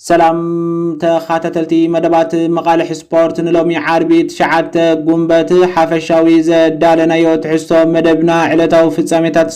ሰላም ተኻታተልቲ መደባት መቓልሕ ስፖርት ንሎሚ ዓርቢ ትሽዓተ ጉንበት ሓፈሻዊ ዘዳለናዮ ትሕዝቶ መደብና ዕለታዊ ፍጻሜታት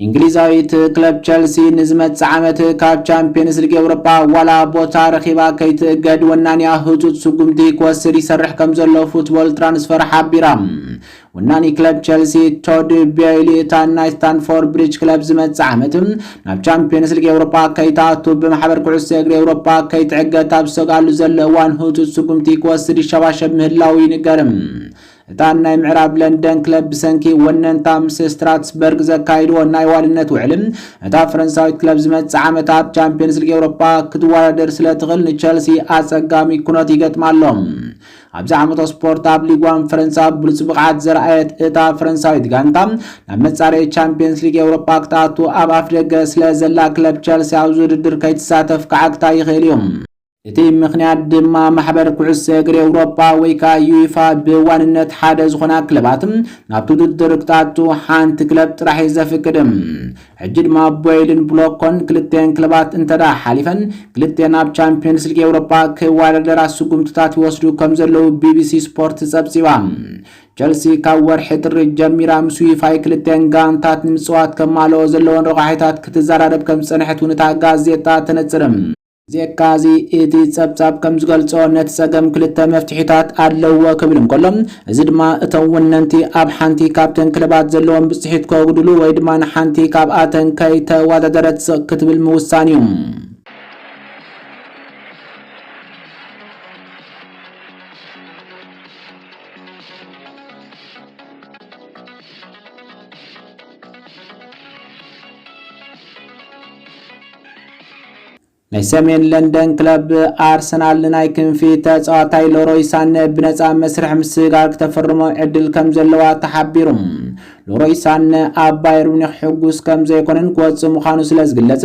እንግሊዛዊት ክለብ ቸልሲ ንዝመጽእ ዓመት ካብ ቻምፒየንስ ሊግ ኤውሮጳ ዋላ ቦታ ረኺባ ከይትእገድ ወናንያ ህጹጽ ስጉምቲ ክወስድ ይሰርሕ ከም ዘሎ ፉትቦል ትራንስፈር ሓቢራ። ወናኒ ክለብ ቸልሲ ቶድ ቤይሊ እታ ናይ ስታንፎርድ ብሪጅ ክለብ ዝመጽእ ዓመት ናብ ቻምፒዮንስ ሊግ ኤውሮጳ ከይትኣቱ ብማሕበር ኩዕሶ እግሪ ኤውሮጳ ከይትዕገት ኣብ ዝሰግኣሉ ዘሎ እዋን ህጹጽ ስጉምቲ ክወስድ ይሸባሸብ ምህላዉ ይንገር። እታ ናይ ምዕራብ ለንደን ክለብ ብሰንኪ ወነንታ ምስ ስትራትስበርግ ዘካይድዎ ናይ ዋልነት ውዕል እታ ፈረንሳዊት ክለብ ዝመጽእ ዓመት ኣብ ቻምፒዮንስ ሊግ ኤውሮጳ ክትወዳደር ስለ ትኽእል ንቸልሲ ኣጸጋሚ ኩነት ይገጥማ ኣሎ። ኣብዚ ዓመተ ስፖርት ኣብ ሊግ ዋን ፈረንሳ ብሉጽ ብቕዓት ዘርኣየት እታ ፈረንሳዊት ጋንታ ናብ መጻረዪ ቻምፕየንስ ሊግ ኤውሮጳ ክትኣቱ ኣብ ኣፍደገ ስለ ዘላ ክለብ ቸልሲ ኣብዚ ውድድር ከይትሳተፍ ክዓግታ ይኽእል እዩ። እቲ ምኽንያት ድማ ማሕበር ኩዕሶ እግሪ ኤውሮጳ ወይ ከኣ ዩይፋ ብዋንነት ሓደ ዝኾና ክለባት ናብቲ ውድድር ክትኣቱ ሓንቲ ክለብ ጥራሕ እዩ ዘፍቅድ። ሕጂ ድማ ቦይልን ብሎኮን ክልቲኤን ክለባት እንተድኣ ሓሊፈን ክልቲኤን ኣብ ቻምፕዮንስ ሊግ ኤውሮጳ ክወዳደራ ስጉምትታት ይወስዱ ከምዘለዉ ቢቢሲ ስፖርት ጸብጺባ። ቸልሲ ካብ ወርሒ ጥሪ ጀሚራ ምስ ዩፋይ ክልቲኤን ጋንታት ንምጽዋት ከማልኦ ዘለወን ረቋሒታት ክትዘራረብ ከምዝጸንሐት እውን እታ ጋዜጣ ተነጽር። ብዜካ እዚ እቲ ጸብጻብ ከም ዝገልጾ ነቲ ጸገም ክልተ መፍትሒታት ኣለዉዎ ክብል እንከሎ እዚ ድማ እቶም ወነንቲ ኣብ ሓንቲ ካብተን ክለባት ዘለዎም ብጽሒት ከጉድሉ ወይ ድማ ንሓንቲ ካብኣተን ከይተወዳደረት ስቕ ክትብል ምውሳን እዩ። ናይ ሰሜን ለንደን ክለብ ኣርሰናል ንናይ ክንፊ ተጻዋታይ ሎሮይ ሳነ ብነጻ መስርሕ ምስጋር ክተፈርሞ ዕድል ከም ዘለዋ ተሓቢሩ። ሎሮይ ሳነ ኣብ ባየር ሙኒክ ሕጉስ ከም ዘይኮነን ክወጽእ ምዃኑ ስለ ዝግለጽ፣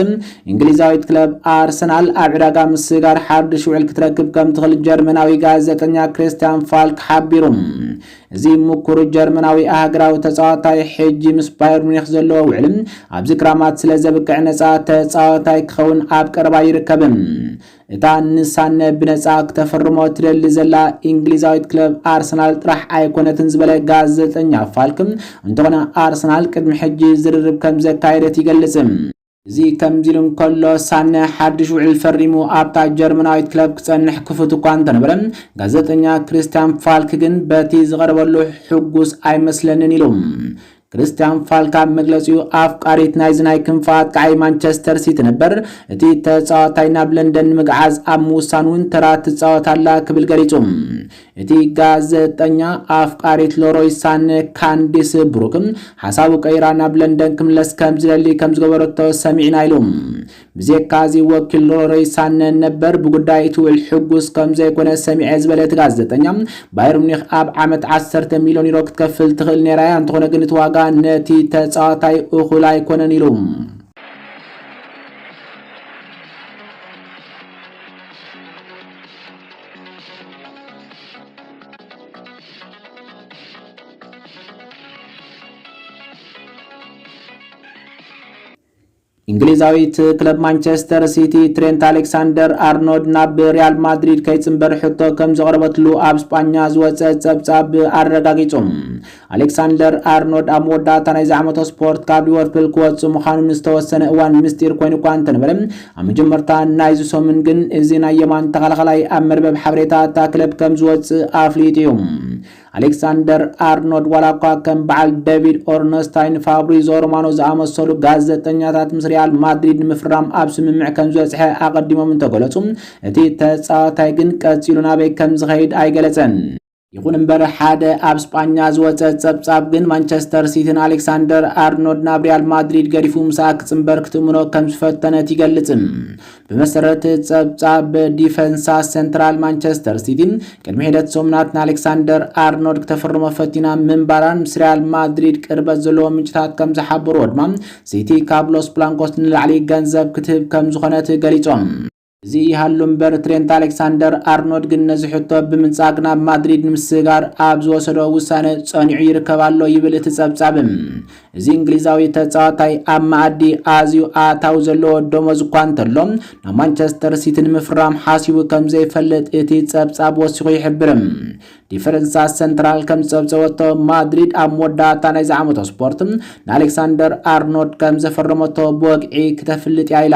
እንግሊዛዊት ክለብ ኣርሰናል ኣብ ዕዳጋ ምስጋር ሓድሽ ውዕል ክትረክብ ከም ትኽእል ጀርመናዊ ጋዜጠኛ ክሪስትያን ፋልክ ሓቢሩ። እዚ ምኩር ጀርመናዊ ኣህግራዊ ተጻዋታይ ሕጂ ምስ ባየር ሙኒክ ዘለዎ ውዕል ኣብዚ ክራማት ስለ ዘብቅዕ ነጻ ተጻዋታይ ክኸውን ኣብ ቀረባ ይርከብ። እታ ንሳነ ብነጻ ክተፍርሞ ትደሊ ዘላ ኢንግሊዛዊት ክለብ ኣርሰናል ጥራሕ ኣይኮነትን ዝበለ ጋዘጠኛ ፋልክ እንተኾነ ኣርሰናል ቅድሚ ሕጂ ዝርርብ ከም ዘካየደት ይገልጽ። እዚ ከምዚ ኢሉ እንከሎ፣ ሳነ ሓድሽ ውዕል ፈሪሙ ኣብታ ጀርመናዊት ክለብ ክጸንሕ ክፉት እኳ እንተነበረ፣ ጋዜጠኛ ክሪስትያን ፋልክ ግን በቲ ዝቐረበሉ ሕጉስ ኣይመስለንን ኢሉ። ክሪስትያን ፋልክ ኣብ መግለጺኡ፣ ኣፍቃሪት ናይዚ ናይ ክንፊ ኣጥቃዓይ ማንቸስተር ሲቲ ነበር፣ እቲ ተጻዋታይ ናብ ለንደን ንምግዓዝ ኣብ ምውሳን እውን ተራ ትጻወት ኣላ ክብል ገሊጹ። እቲ ጋዘጠኛ ኣፍቃሪት ለሮይ ሳን ካንዲስ ብሩክ ሓሳቡ ቀይራ ናብ ለንደን ክምለስ ከም ዝደሊ ከም ዝገበረቶ ሰሚዕና ኢሉ። ብዜካዚ ወኪል ሎሮይ ሳን ነበር ብጉዳይ እቲ ውዕል ሕጉስ ከም ዘይኮነ ሰሚዐ ዝበለ እቲ ጋዘጠኛ ባየር ሙኒክ ኣብ ዓመት ዓሰርተ ሚልዮን ዩሮ ክትከፍል ትኽእል ነይራ እያ እንተኾነ ግን እቲ ዋጋ ነቲ ተጻዋታይ እኹል ኣይኮነን ኢሉ። እንግሊዛዊት ክለብ ማንቸስተር ሲቲ ትሬንት ኣሌክሳንደር ኣርኖልድ ናብ ሪያል ማድሪድ ከይጽንበር ሕቶ ከም ዘቕረበትሉ ኣብ ስጳኛ ዝወጸ ጸብጻብ ኣረጋጊጹ። ኣሌክሳንደር ኣርኖልድ ኣብ መወዳእታ ናይዚ ዓመተ ስፖርት ካብ ሊቨርፑል ክወጽእ ምዃኑ ንዝተወሰነ እዋን ምስጢር ኮይኑ እኳ እንተነበረ ኣብ መጀመርታ ናይዚ ሰሙን ግን እዚ ናይ የማን ተኸላኻላይ ኣብ መርበብ ሓበሬታ እታ ክለብ ከም ዝወጽእ ኣፍሊጡ እዩ። ኣሌክሳንደር ኣርኖልድ ዋላ እኳ ከም በዓል ዴቪድ ኦርነስታይን ፋብሪዞ ሮማኖ ዝኣመሰሉ ጋዜጠኛታት ምስ ሪያል ማድሪድ ንምፍራም ኣብ ስምምዕ ከም ዝበጽሐ ኣቐዲሞም እንተገለጹ እቲ ተጻዋታይ ግን ቀጺሉ ናበይ ከም ዝኸይድ ኣይገለጸን። ይኹን እምበር ሓደ ኣብ ስጳኛ ዝወጸ ጸብጻብ ግን ማንቸስተር ሲቲን ኣሌክሳንደር ኣርኖልድ ናብ ሪያል ማድሪድ ገዲፉ ምሳኣ ክጽንበር ክትእምኖ ከም ዝፈተነት ይገልጽ። ብመሰረት ጸብጻብ ዲፈንሳ ሰንትራል ማንቸስተር ሲቲ ቅድሚ ሒደት ሰሙናት ንኣሌክሳንደር ኣርኖልድ ክተፍርሞ ፈቲና ምንባራን ምስ ሪያል ማድሪድ ቅርበት ዘለዎ ምንጭታት ከም ዝሓበርዎ ድማ ሲቲ ካብ ሎስ ብላንኮስ ንላዕሊ ገንዘብ ክትህብ ከም ዝኾነት ገሊጾም። እዚ ይሃሉ እምበር ትሬንት ኣሌክሳንደር ኣርኖድ ግን ነዚ ሕቶ ብምንጻግ ናብ ማድሪድ ንምስግጋር ኣብ ዝወሰዶ ውሳነ ጸኒዑ ይርከብ ኣሎ ይብል እቲ ጸብጻብ። እዚ እንግሊዛዊ ተጻዋታይ ኣብ መኣዲ ኣዝዩ ኣታዊ ዘለዎ ደሞዝ እኳ እንተሎ ናብ ማንቸስተር ሲቲ ንምፍራም ሓሲቡ ከም ዘይፈልጥ እቲ ጸብጻብ ወሲኹ ይሕብር። ዲፈረንሳ ሰንትራል ከም ዝጸብጸበቶ ማድሪድ ኣብ መወዳእታ ናይዚ ዓመቶ ስፖርት ንኣሌክሳንደር ኣርኖድ ከም ዘፈረመቶ ብወግዒ ክተፍልጥ እያ ኢላ።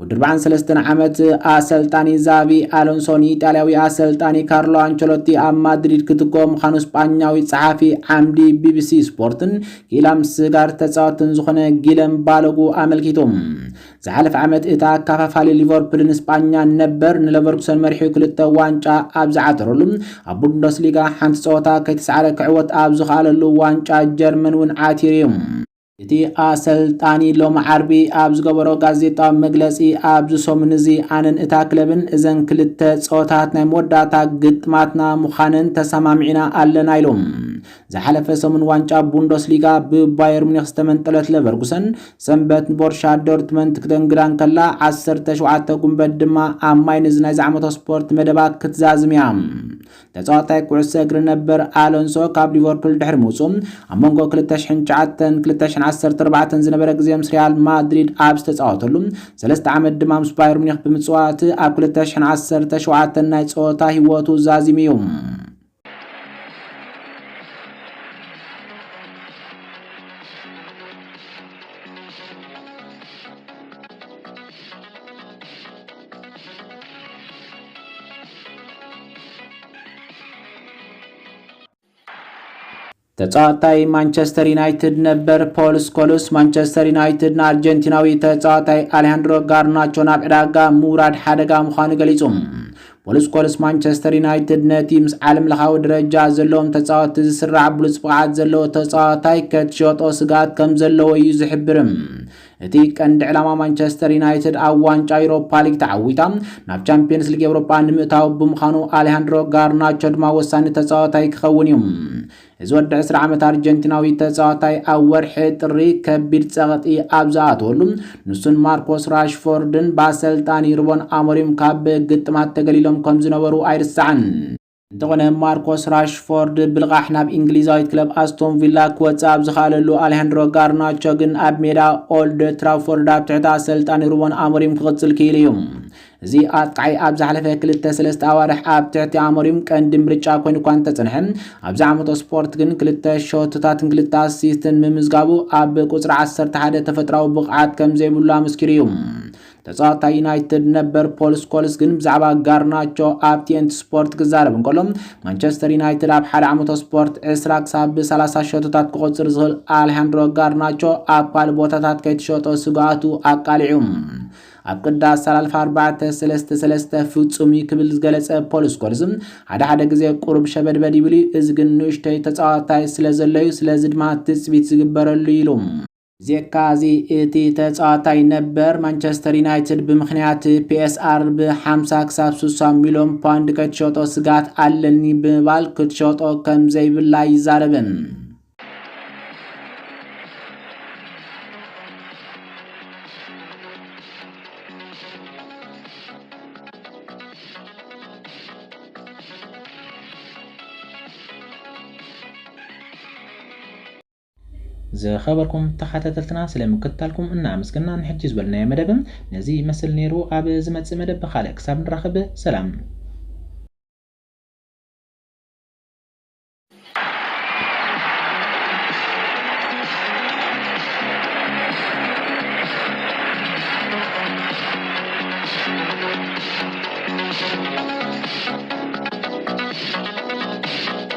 ወዲ ኣርብዓን ሰለስተን ዓመት ኣሰልጣኒ ዛቪ ኣሎንሶ ንኢጣልያዊ ኣሰልጣኒ ካርሎ ኣንቸሎቲ ኣብ ማድሪድ ክትክኦ ምዃኑ ስጳኛዊ ጸሓፊ ዓምዲ ቢቢሲ ስፖርትን ክኢላ ምስጋር ተጻወትን ዝኾነ ጊለም ባሎጉ ኣመልኪቱ። ዝሓለፈ ዓመት እቲ ኣካፋፋሊ ሊቨርፑል ንስጳኛ ነበር ንለቨርኩሰን መሪሑ ክልተ ዋንጫ ኣብ ዝዓተረሉ ኣብ ቡንደስሊጋ ሓንቲ ጸወታ ከይተሰዓረ ክዕወት ኣብ ዝኸኣለሉ ዋንጫ ጀርመን እውን ዓቲሩ እዩ። እቲ ኣሰልጣኒ ሎሚ ዓርቢ ኣብ ዝገበሮ ጋዜጣዊ መግለጺ፣ ኣብዚ ሰሙን እዚ ኣነን እታ ክለብን እዘን ክልተ ጸወታት ናይ መወዳእታ ግጥማትና ምዃነን ተሰማሚዕና ኣለና ኢሉ። ዝሓለፈ ሰሙን ዋንጫ ቡንደስሊጋ ብባየር ሙኒክ ዝተመንጠለት ለቨርጉሰን፣ ሰንበት ንቦርሻ ዶርትመንት ክተንግዳ እንከላ፣ ዓሰርተ ሸውዓተ ጉንበት ድማ ኣብ ማይንዝ ናይ ዝዓመቶ ስፖርት መደባ ክትዛዝም እያ። ተጻዋታይ ኩዕሶ እግሪ ነበር ኣሎንሶ ካብ ሊቨርፑል ድሕሪ ምውጽኡ፣ ኣብ መንጎ ክልተ ሽሕን ትሽዓተን፣ ክልተ ሽሕን ዓሰርተ ኣርባዕተን ዝነበረ ግዜ ምስ ሪያል ማድሪድ ኣብ ዝተጻወተሉ፣ ሰለስተ ዓመት ድማ ምስ ባየር ሙኒክ ብምጽዋት ኣብ ክልተ ሽሕን ዓሰርተ ሸውዓተን ናይ ጸወታ ህይወቱ ዛዚሙ እዩ። ተጻዋታይ ማንቸስተር ዩናይትድ ነበር ፖል ስኮልስ ማንቸስተር ዩናይትድ ንኣርጀንቲናዊ ተጻዋታይ ኣሌሃንድሮ ጋርናቾ ናብ ዕዳጋ ምውራድ ሓደጋ ምዃኑ ገሊጹ ፖል ስኮልስ ማንቸስተር ዩናይትድ ነቲ ምስ ዓለም ለኻዊ ደረጃ ዘለዎም ተጻወቲ ዝስራዕ ብሉጽ ብቕዓት ዘለዎ ተጻዋታይ ከትሸጦ ስግኣት ከም ዘለዎ እዩ ዝሕብርም እቲ ቀንዲ ዕላማ ማንቸስተር ዩናይትድ ኣብ ዋንጫ ዩሮፓ ሊግ ተዓዊታ ናብ ቻምፒየንስ ሊግ ኤውሮጳ ንምእታው ብምዃኑ ኣሌሃንድሮ ጋርናቾ ድማ ወሳኒ ተጻዋታይ ክኸውን እዩ። እዚ ወዲ ዕስራ ዓመት ኣርጀንቲናዊ ተጻዋታይ ኣብ ወርሒ ጥሪ ከቢድ ጸቕጢ ኣብ ዝኣተወሉ ንሱን ማርኮስ ራሽፎርድን ብኣሰልጣኒ ሩበን ኣሞሪም ካብ ግጥማት ተገሊሎም ከም ዝነበሩ ኣይርሳዕን። እንተኾነ ማርኮስ ራሽፎርድ ብልቓሕ ናብ እንግሊዛዊት ክለብ ኣስቶን ቪላ ክወጽእ ኣብ ዝኸኣለሉ ኣሌሃንድሮ ጋርናቾ ግን ኣብ ሜዳ ኦልድ ትራፎርድ ኣብ ትሕቲ ኣሰልጣኒ ሩበን ኣሞሪም ክቕጽል ክኢሉ እዩ። እዚ ኣጥቃዓይ ኣብ ዝሓለፈ ክልተ ሰለስተ ኣዋርሕ ኣብ ትሕቲ ኣሞሪም ቀንዲ ምርጫ ኮይኑ እኳ እንተጸንሐ ኣብዚ ዓመተ ስፖርት ግን ክልተ ሸቶታትን ክልተ ኣሲስትን ምምዝጋቡ ኣብ ቁጽሪ ዓሰርተ ሓደ ተፈጥራዊ ብቕዓት ከም ዘይብሉ ኣመስኪሩ እዩ። ተጻዋታይ ዩናይትድ ነበር ፖል ስኮልስ ግን ብዛዕባ ጋርናቾ ኣብ ቲኤንቲ ስፖርት ክዛረብ እንከሎ ማንቸስተር ዩናይትድ ኣብ ሓደ ዓመቶ ስፖርት 20 ክሳብ ብ30 ሸቶታት ክቆጽር ዝኽእል ኣልሃንድሮ ጋርናቾ ኣብ ካልእ ቦታታት ከይትሸጦ ስግኣቱ ኣቃሊዑ ኣብ ቅዳስ ሰላልፍ ኣርባዕተ ሰለስተ ሰለስተ ፍጹም እዩ ክብል ዝገለጸ ፖል ስኮልስ ሓደ ሓደ ግዜ ቁሩብ ሸበድበድ ይብል እዩ እዚ ግን ንእሽተይ ተጻዋታይ ስለ ዘሎ እዩ ስለዚ ድማ ትጽቢት ዝግበረሉ ኢሉ ብዜካ እዚ እቲ ተጻዋታይ ነበር ማንቸስተር ዩናይትድ ብምክንያት ፒኤስኣር ብ50 ክሳብ 60 ሚልዮን ፓውንድ ከትሸጦ ስጋት ኣለኒ ብምባል ክትሸጦ ከም ዘይብላ ይዛረብን። ዝኸበርኩም ተኻታተልትና ስለ ምክትታልኩም እና ኣመስገና ንሕጂ ዝበልናዮ መደብ ነዚ ይመስል ነይሩ ኣብ ዝመጽእ መደብ ብኻልእ ክሳብ ንራኸብ ሰላም።